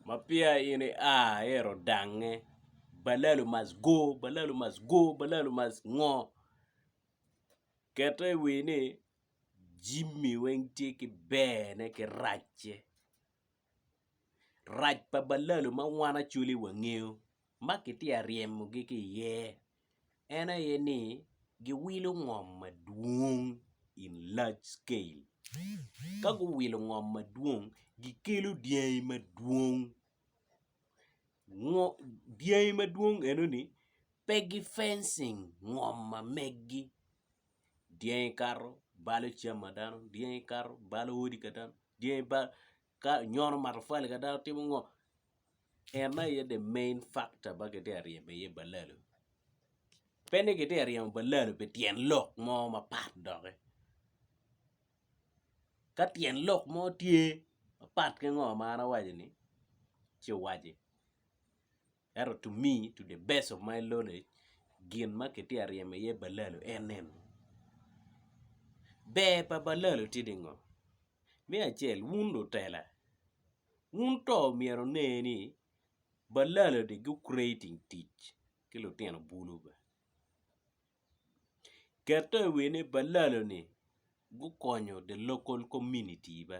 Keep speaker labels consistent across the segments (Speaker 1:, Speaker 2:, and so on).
Speaker 1: ma peya in ia ito dange balalu must go balalu must go balalu must ngo kete iwi ni Jimmy weng tye ki ber ne ki rac ce rac pa balalu ma wan acwali wangeyo ma kitye ka ryemogi ki iye. en aye ni giwilo ngom madwong in large scale ka guwilo ngom madwong gikelo dyangi madwong dyangi madwong enoni pe gifencing ngom ma megi dyangi kato balo cam ma dano dyangi kato balo odi ka dano dyangi balo Ka onyono matafali ka dano timo ngo? En aye the main factor ma kitye ka ryeme iye balalo. Pe ni kitye ka ryemo balalo pi tyen lok mo mapat doki. Ka tyen lok mo tye mapat ki ngo ma an awaco-ni, ci waci. Ento to me, to the best of my knowledge gin ma kitye ka ryemo iye balalo en eni, ber pa balalo tye ni ngo? Me acel wun lutela wun to myero wune ni balalo ni gu creating tic ki lutino bulu be, kete iwiye ni balalo ni gukonyo the local community be.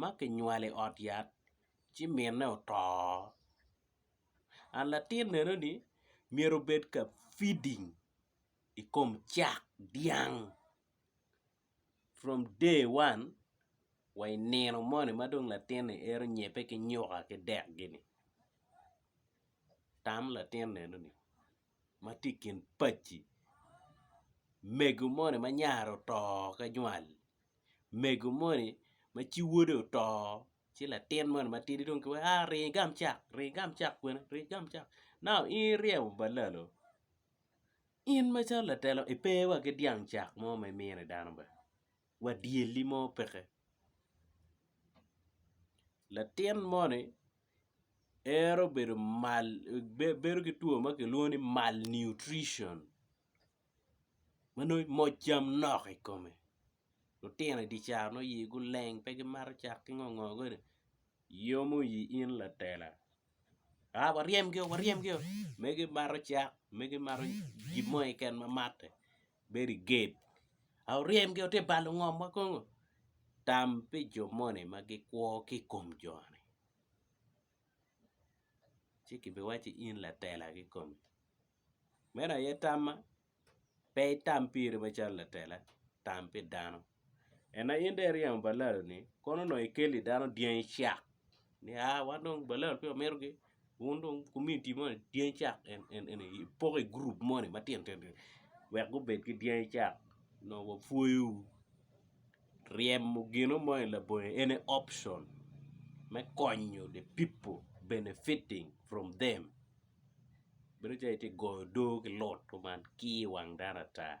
Speaker 1: ma kinywalo i ot yat ci mine oto and latin eno ni myero obed ka feeding i kom cak dyang from day one wa i nino moni ma dong latin ni ito nyibbe ki nyuka ki dek gini tam latin neno ni ma tye i kin paci mego moni ma nyare oto ki nywal. mego moni ma ci wode oto ci latin moni matidi dong kiwaco ni aa ringo igam cak ringo igam cak kwena ringo igam cak nau in iryemo balalo in macalo latela ipe wa ki dyang cak mo ma imino i dano bene wa dyelli mo peke latin moni ero bedo mal bedo ki two ma kilwongo ni malnutrition ma nongo imoc cam nok i kome lutino i di caro nongo iyigi oleng pe gimato cak ki ngo ngo koni yomo i in latela a waryemgi oo waryemgi oo me gimato cak me gimato gin mo keken ma matte bedo i gate a wuryemgi oo tye ka balo ngom wa kong oo tam pi jo moni ma gikwo ki i kom joni ci kibiwacci in latela kikome. Meno aye tamma, pe itam piri macalo latela, tam pi dano. En aye in dong iryemo balalo-ni, kono onongo ikeli dano dyangi cak ni aa wan dong balalo peya wamitogi, wun dong komuniti moni dyangi cak en en en aye ipoko i gurup moni matino tino ni wek gubed ki dyangi cak onongo wapwoyowu. Ryemo gino moni labongi en aye option me konyo the people benefiting from them. bedo calo itye ka goyo odoo ki loot kuman kii iwang dano ata.